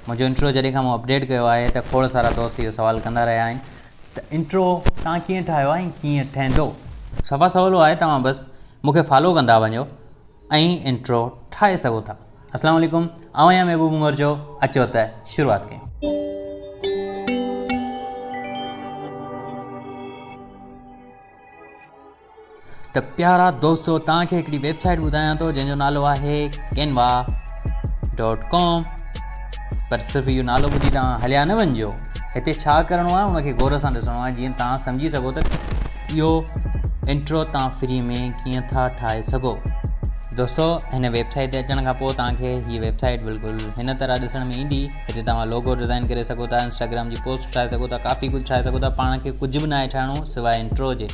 منهنجو انٽرو جڏهن کان مون اپڊيٽ ڪيو آهي ته کوڙ سارا دوست اهو سوال ڪندا رهيا آهن ته انٽرو توهان ڪيئن ٺاهيو آهي ۽ ڪيئن ٺهندو؟ صفا سولو آهي توهان بس مون کي فالو ڪندا وڃو ۽ انٽرو ٺاهي سگهو ٿا. اسلام عليڪم آئون آهيان محبوب عمر جو اچو ته شروعات ڪيون. ته پيارا دوستو توهان کي هڪڙي ويب سائيٽ ٻڌايان ٿو جنهن جو نالو آهي ڪينوا ڊاٽ ڪام پر صرف اهو نالو ٻڌي توهان هليا نه وڃجو هتي ڇا ڪرڻو آهي ان کي غور سان ڏسڻو آهي جيئن توهان سمجهي سگهو ته اهو انٽرو توهان فري ۾ ڪيئن ٿا ٺاهي سگهو دوستو هن ويب سائيٽ تي اچڻ کان پوء توهان کي هي ويب سائيٽ بلڪل هن طرح ڏسڻ ۾ ايندي هتي توهان لوگو ڊيزائن ڪري سگهو ٿا انسٽاگرام جي پوسٽ ٺاهي سگهو ٿا ڪافي ڪجهه ٺاهي سگهو ٿا پاڻ کي ڪجهه به ناهي ٺاهڻو سواء انٽرو جي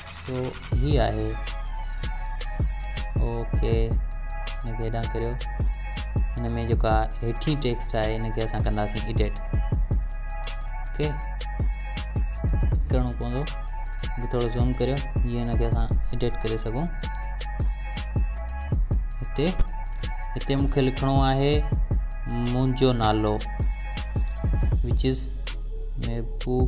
جو هي آهي او کي هن کي هيڏانهن ڪريو هن ۾ جيڪا هيٺين ٽيڪسٽ آهي هن کي اسان ڪنداسين ايڊيٽ اوڪي ڪرڻو پوندو ٿورو زوم ڪريو جيئن هن کي اسان ايڊيٽ ڪري سگھون هتي هتي مون کي لکڻو آهي منهنجو نالو وچ از محبوب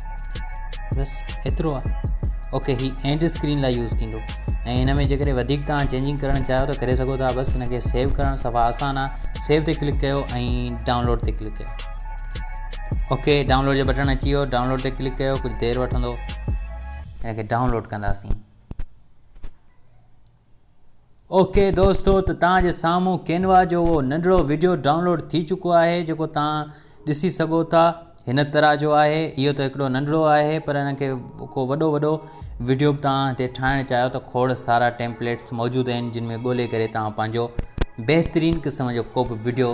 بس ايترو آ اوڪي هي اينڊ اسڪرين لاء يوز ٿيندو ۽ هن ۾ جيڪڏهن وڌيڪ تان چينجنگ ڪرڻ چاهيو ته ڪري سگهو ٿا بس هن کي سيو ڪرڻ صفا آسان آ سيو تي ڪلڪ ڪيو ۽ ڊائونلوڊ تي ڪلڪ ڪيو اوڪي ڊائونلوڊ جو بٽڻ اچي ويو ڊائونلوڊ تي ڪلڪ ڪيو ڪجهه دير وٺندو هن کي ڊائونلوڊ ڪنداسين اوڪي دوستو ته توهان جي سامهون ڪينوا جو اهو ننڍڙو وڊيو ڊائونلوڊ ٿي چڪو آهي جيڪو توهان ڏسي سگهو ٿا هن طرح جو آهي اهو ته هڪڙو ننڍڙو آهي پر ان کي ڪو وڏو وڏو وڊيو به توهان هتي ٺاهڻ چاهيو ته کوڙ سارا ٽيمپليٽس موجود آهن جن ۾ ڳولي ڪري توهان پنهنجو بهترين قسم جو ڪو به وڊيو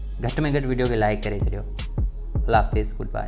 گهٽ ۾ گهٽ وڊيو کي لائيڪ ڪري ڇڏيو الله حافظ گڊ باء